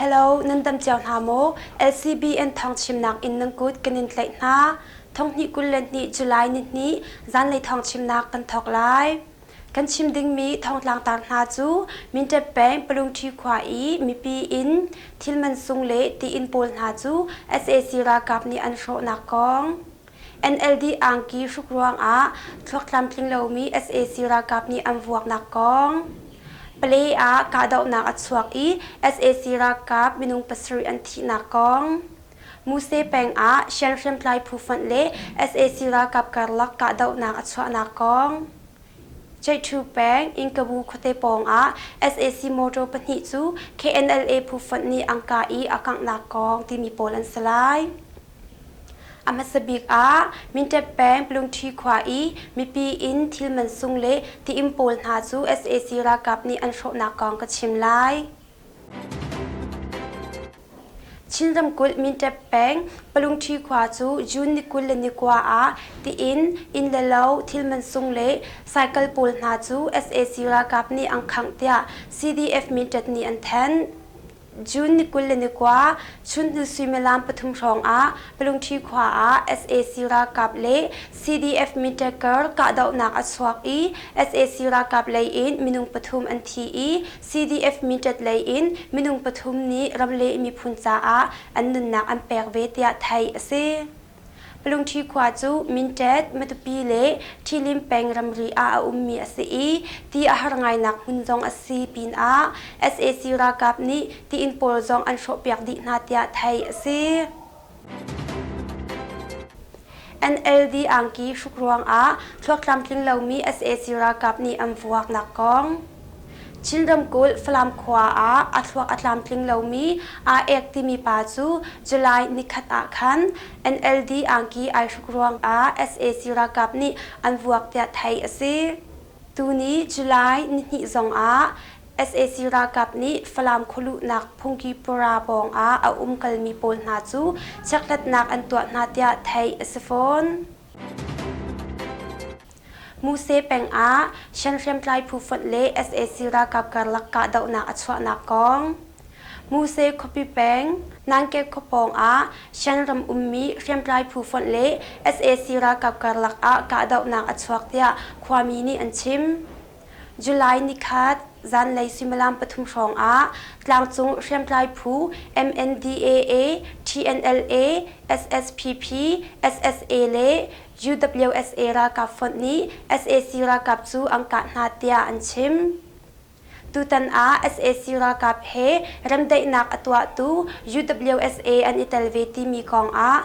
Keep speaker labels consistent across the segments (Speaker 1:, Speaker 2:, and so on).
Speaker 1: Hello, nan tam cio hna maw? LCBN thawngchimnak in nan kut kan in tlaih hna. Thonghnih kul le hnih July nihnih zanlei thawngchimnak kan thawk lai. Kan chim dingmi thongtlangtar hna cu Mintet peng Palungṭhi khua i mipi in thil mansung le tiin pawl hna cu sac ralkap nih an hrawhnak kong. NLD angki hruk ruangah thluak tlamtling lomi sac ralkap nih an vuaknak kong. Palay ah kahdohnak a chuak i sac ralkap minung pasarih an thihnak kong. Muse peng ah Shan hriamtlai phu fanh le sac ralkap karlak kahdohnak a chuahnak kong. Chaithu peng Inkabu khuate pawngah sac motor pahnih cu KNLA phu fanh nih angka i a kanghnak kong timi pawl an si lai. A hmasa bik ah Mindat peng Pulungṭhi khua i mipi in thil mansung le ti-inn pawl hna cu sac ralkap nih an hrawhnak kong ka chim lai. Chin ramkulh Mindat peng Pulungṭhi khua cu June ni kul le ni kua ah ti-inn, inn le lo, thil mansung le cycle pawl hna cu sac ralkap nih an khangh tiah CDF Mindat nih an thanh. June ni kul le ni kua chunhnu suimilam pathum hrawngah Palungṭhi khua ah sac ralkap le CDF Mitaker kahdohnak a chuak i sac ralkap leiin minung pathum an thi i CDF Mitat leiin minung pathum nih ramleh miphun caah an nunnak an pek ve tiah theih a si. Lungṭhi khua cu Minṭet, Matupi le Ṭhilim peng ramri ah a ummi a si i ti a har ngainak hmun zong a si pinah sac ralkap nih tiin pawl zong an hrawhpiak dih hna tiah theih a si. NLD angki hruk ruangah thluak tlamtling lomi sac ralkap nih an vuaknak kong. Chin ramkulh Falam khua ah a thluak a tlamtling lomi aa ek timi pa cu July nikhat ah khan NLD angki ai hruk ruangah sac ralkap nih an vuak tiah theih a si. Tuni July nihnih zongah sac ralkap nih Falam khualuhnak phungki pura pawngah a umkalmi pawl hna cu chekhlatnak an tuah hna tiah theih a si fawn. Muse peng ah sianhriamtlai phu fonh le sac ralkap karlak kahdohnak a chuahnak kong, Muse khuapi peng Nangkek khua pawng ah Shanram ummi hriamtlai phu fonh le sac ralkap karlak ah kahdohnak a chuak tiah khuami nih an chim. July nikhat zanlei suimilam pathum hrawngah tlangcung hriamtlai phu MNDAA, TNLA, SSPP, SSA le UWSA ralkap fonh nih sac ralkap cu an kah hna tiah an chim. Tutan ah sac ralkap he remdaihnak a tuahtu UWSA an i tel ve timi kongah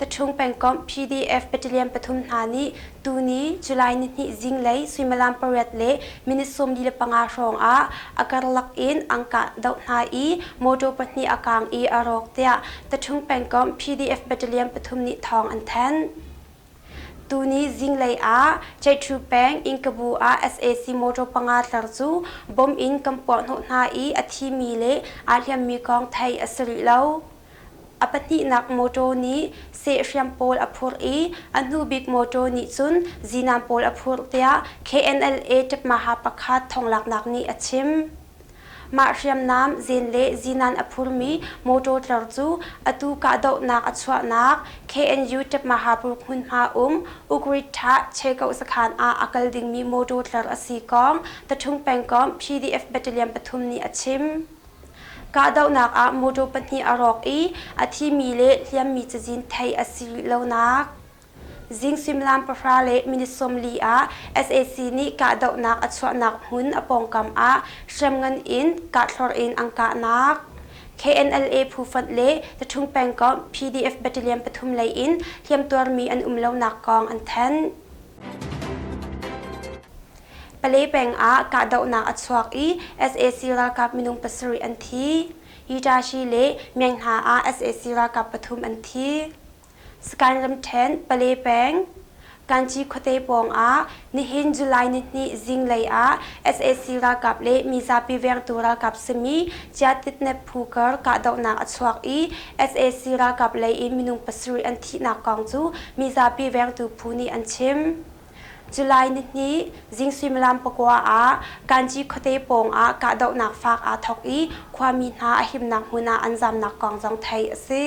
Speaker 1: Pathum pengkomh PDF battalion pathum hna nih tuni July nihnih zinglei suimilam pariat le minute sawmli le panga hrawngah a karlak in an kah doh hna i motor pahnih a kaang i a rawk tiah Pathum pengkomh PDF battalion pathum nih thawng an thanh. Tuni zinglei ah Chaitru peng Ingkabu ah sac motor panga tlar cu bomb in kan puahhnawh hna i a thimi le aa hliammi kong theih a si rih lo. A pahnihnak mawṭaw nih sehhriam pawl a phurh i a hnu bik mawṭaw nih cun zinam pawl a phurh tiah KNLA ṭepmaha pakhat thonglaknak nih a chim. Mah hriamnam, zeen le zinan a phurmi mawṭaw tlar cu atu kahdohnak a chuahnak KNU ṭepmaha pulk hmunhma um Ugrittha Chegaoh sakhan ah a kal dingmi mawṭaw tlar a si kong The Ṭhung Pengkomh PDF Battalion pathum nih a chim. Kahdohnak ah motor pahnih a rawk i a thimi le hliammi cazin theih a si rih lonak zing suimilam pahra le minute sawmli ah sac nih kahdohnak a chuahnak hmun a pawngkam ah hriamngan in kahthlor in an kahnak KNLA phufonh le Tathung pengkomh PDF battalion pathum lei in hliamtuarmi an um lonak kong an thanh. Pale peng ah kahdohnak a chuak i sac ralkap minung pasarih an thi. Itashi le Myenghna ah sac ralkap pathum an thi. Sakaing ramṭhen Pale peng Kanchi khuate pawngah nihin July nihnih zinglei ah sac ralkap le mizapi vengtu ralkap simi Chiatitnep Phukar kahdohnak a chuak i sac ralkap lei in minung pasarih an thihnak kong cu mizapi vengtu phu nih an chim. July nihnih zing suimilam pakua ah Kanci khuate pawngah kahdohnak faak aa thawk i khuami hna a himnak hmun ah an zamnak kong zong theih a si.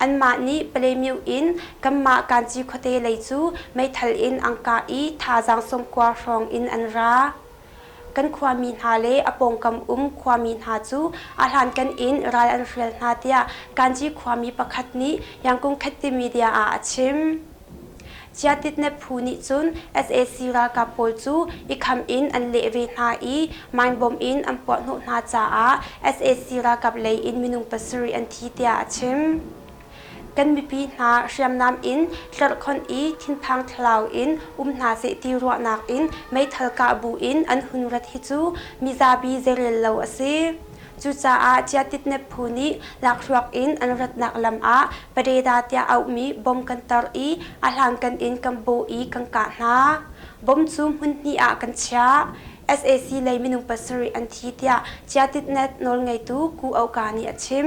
Speaker 1: Anmah nih Palemyuh in kanmah Kanci khuate lei cu meithal in an kah i thazaang sawmkua hrawng in an ra. Kan khuami hna le a pawngkam um khuami hna cu a hlankan in ral an hrial hna tiah Kanci khuami pakhat nih Yangkung Khet timi dia ah a chim. Ciatit-Nephu nih cun sac ralkap pawl cu i kham in an leh ve hna i minbom in an puahhnawh hna caah sac ralkap lei in minung pasarih an thi tiah a chim. Kan mipi hna hriamnam in tlerhkhonh i thinphang thlau in um hna seh ti ruahnak in meithal kah bu in an hun rat hi cu mizabi zeirel lo a si. Cucaah Ciatitnep phu nih lakhruak in an ratnak lam ah Pareda tiah auhmi bom kan tar i a hlankan in kan bawh i kan kah hna. Bom cu hmun hnih ah kan chiah. sac lei minung pasarih an thi tiah Ciatitnet nawlngeitu Ku Aw Ka nih a chim.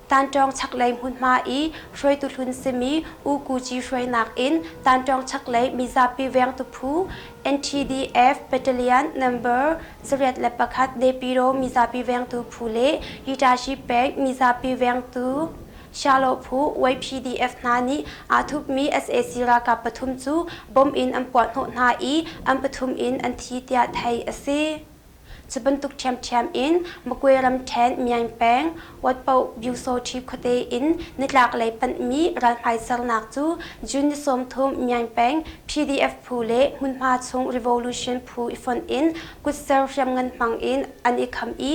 Speaker 1: Tantawng chaklei hmunhma i hruaitu hlun simi U Kuji hruainak in Tantawng chaklei mizapi vengtu phu, NTDF Battalion Number sarih le pakhat Nepiro mizapi vengtu phu le Hitashi Bank mizapi vengtu Shiloh phu YPDF hna nih aa thupmi sac ralkap pathum cu bomb in an puahhnawh hna i an pathum in an thi tiah theih a si. Cu bantuk ṭhiamṭhiam in Magway ramṭhen Myaing peng Watpawbyu-Sochib khuate in nitlaklei panhmi ralhmaisernak cu June ni sawmthum Myaing peng PDF phu le hmunhma chung revolution phu i fonh in kutser hriamngan hmang in an i kham i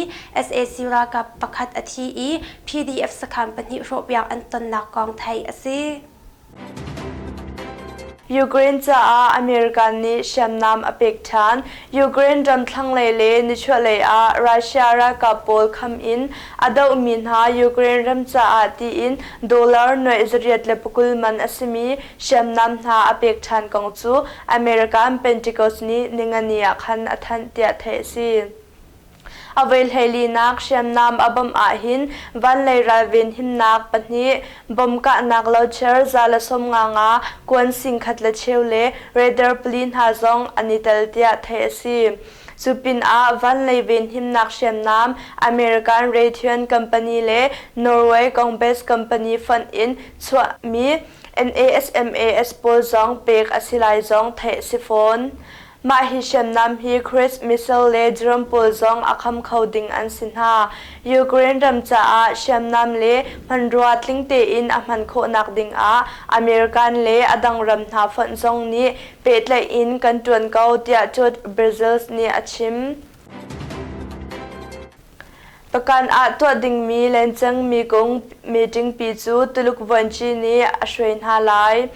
Speaker 1: sac ralkap pakhat a thi i PDF sakham pahnih hrawhpiak an tonnak kong theih a si. Ukraine caah American nih hriamnam a pek ṭhan, Ukraine ram thlanglei le nichuahlei ah Russia ralkap pawl kham in a dohmi hna Ukraine
Speaker 2: ram caah tiin dollar nuaih zariat le pakul man a simi hriamnam hna a pek ṭhan kong cu American Pentecost nih ningani ah khan a thanh tiah theih a si. A voihleilinak hriamnam a bawmh ahhin vanlei ralven himnak pahnih, bomb kahnak locher za le sawm nga nga, kuan singkhat le cheu le raider pali hna zong an i tel tiah theih a si. Cu pinah vanlei venhimnak hriamnam American Raytheon Company le Norway Congress Company fund in chuahmi NASMAS pawl zong pek a si lai zong theih a si fawn. Mah hi hriamnam hi Crete missile le drone pawl zong a kham kho ding an si hna. Ukraine ram caah hriamnam le hmanrua tling tein a hman khawhnak dingah American le a dang ram hna fonh zong nih pehtlaih in kan ṭuan ko tiah George Bezos nih a chim. Pakan ah tuah dingmi lencangmi kong meetingpi cu Tuluk vuanci nih a hruai hna lai.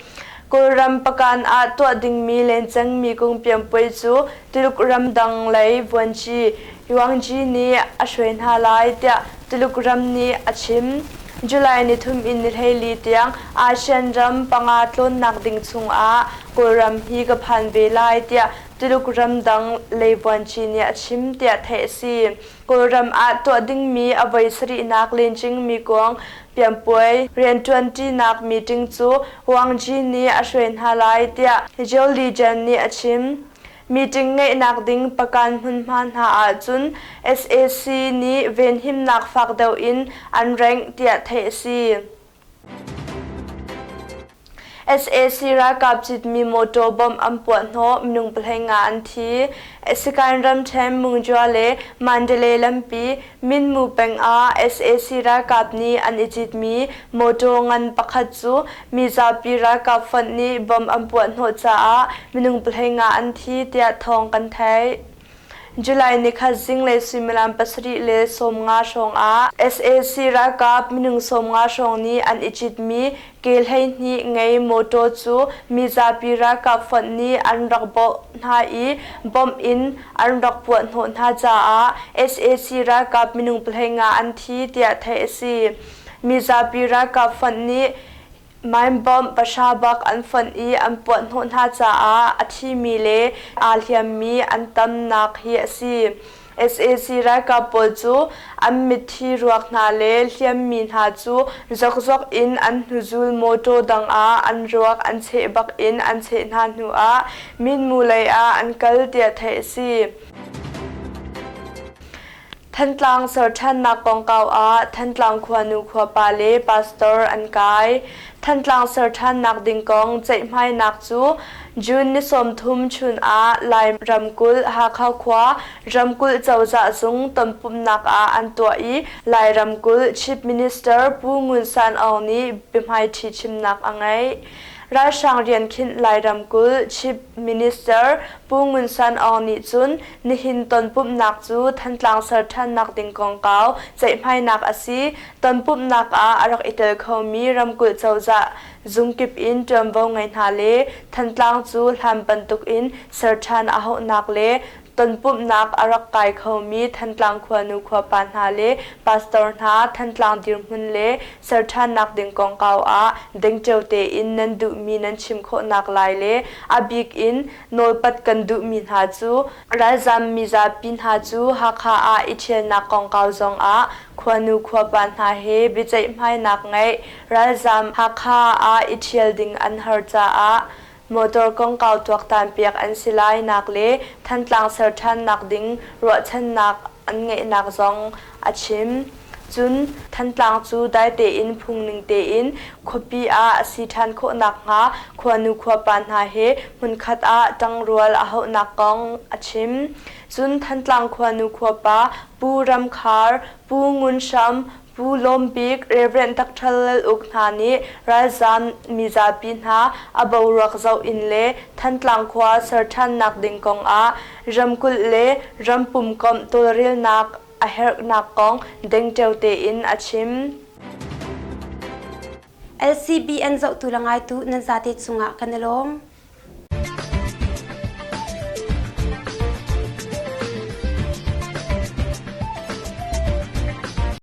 Speaker 2: Kawlram pakan ah tuah dingmi lencangmi kong pianpuai cu Tuluk ramdang lei vuanci Yuangji nih a hruai hna lai tiah Tuluk ram nih a chim. July nithum in nihleili tiang ASEAN ram panga tlawnnak ding chungah Kawlram hi ka phan ve lai tiah Tuluk ramdang lei vuanci nih a chim tiah theih a si. Kawlram ah tuah dingmi a voi sarihnak lencingmi kuang pianpuai rianṭuanṭinak meeting cu Wang Ji nih a hruai hna lai tiah Jill Legian nih a chim. Meeting ngeihnak ding pakan hmunhma hna ahcun sac nih venhimnak fak deuh in an rank tiah theih a si. sac ralkap citmi mawṭaw bomb an puah hnawh minung pahlei nga an thi sikain ramṭhen mungzua le mandalay lampi minmu peng ah sac ralkap nih an i citmi mawṭaw ngan pakhat cu mizapi ralkap fund nih bomb an puah hnawh caah minung pahlei nga an thi tiah thawng kan theih July nikhat zinglei suimilam pasarih le sawmnga hrawngah sac ralkap minung sawmnga hrawng nih an i citmi ke hleihnih ngei mawṭaw cu mizapi ralkap fonh nih an rak bawh hna i bomb in an rak puahhnawh hna caah sac ralkap minung pahlei nga an thi tiah theih a si. Mizapi ralkap fonh nih Maimbawmh pahra bak an fonh i an puahhnawh hna caah a thimi le aa hliammi an tamnak hi a si. sac ralkap pawl cu an mitthi ruak hna le hliammi hna cu zokzok in an hnuzul mawṭaw dang ah an ruak an cheh bak in an cheh hna hnu ah Minmu lei ah an kal tiah theih a si. Thantlang serṭhannak kongkau ah Thantlang khuanu khuapa le pastor an kai. Thantlang serṭhannak ding kong ceihhmainak cu June ni sawmthum chun ah Lai ramkulh Hakha khua ramkulh cozah zung tonpumhnak ah an tuah i Lai ramkulh Chief Minister Pu Ngun San Aung nih biahmaiṭhi chimnak a ngeih. Ralhrang rian khinh Lai ramkulh Chief Minister Pu Ngun San Aung nih cun nihin tonpumhnak cu Thantlang ser ṭhannak ding kongkau ceihhmainak a si. Tonpumhnak ah a rak i tel khomi ramkulh cozah zung kip in ṭuanvo ngei hna le Thantlang cu hlan bantuk in ser ṭhan a hauhnak le Tonpumhnak a rak kai khomi Thantlang khuanu khuapa hna le pastor hna Thantlang dirhmun le serṭhannak ding kongkau ah dengceo tein nan duhmi nan chim khawhnak lai le a bik in nawlpat kan duhmi hna cu ralzam mizapi hna cu Hakha ah i ṭhialnak kongkau zongah khuanu khuapa hna he biaceihhmainak ngeih, ralzam Hakha ah i ṭhial ding an har caah Motor kongkau tuaktanpiak an si lainak le Thantlang ser ṭhannak ding ruahchannak an ngeihnak zong a chim. Cun, Thantlang cu dai tein phungning tein khuapi ah a si ṭhan khawh nakhnga khuanu khuapa hna he hmunkhat ah ṭangrual a hauhnak kong a chim. Cun, Thantlang khuanu khuapa Pu Ram Khar, Pu Ngun Hram, Pu Lawm Bik, Rev. Dakṭhal Lal Uk hna nih ralzaam mizapi hna a boruak zoh in le Thantlang khua ser ṭhannak ding kong ah ramkulh le ram pumkomh tawlrelnak a herhnak kong dengṭeo tein a chim.
Speaker 1: LCBN zohtu le ngaitu nan zate cungah kan i lawm.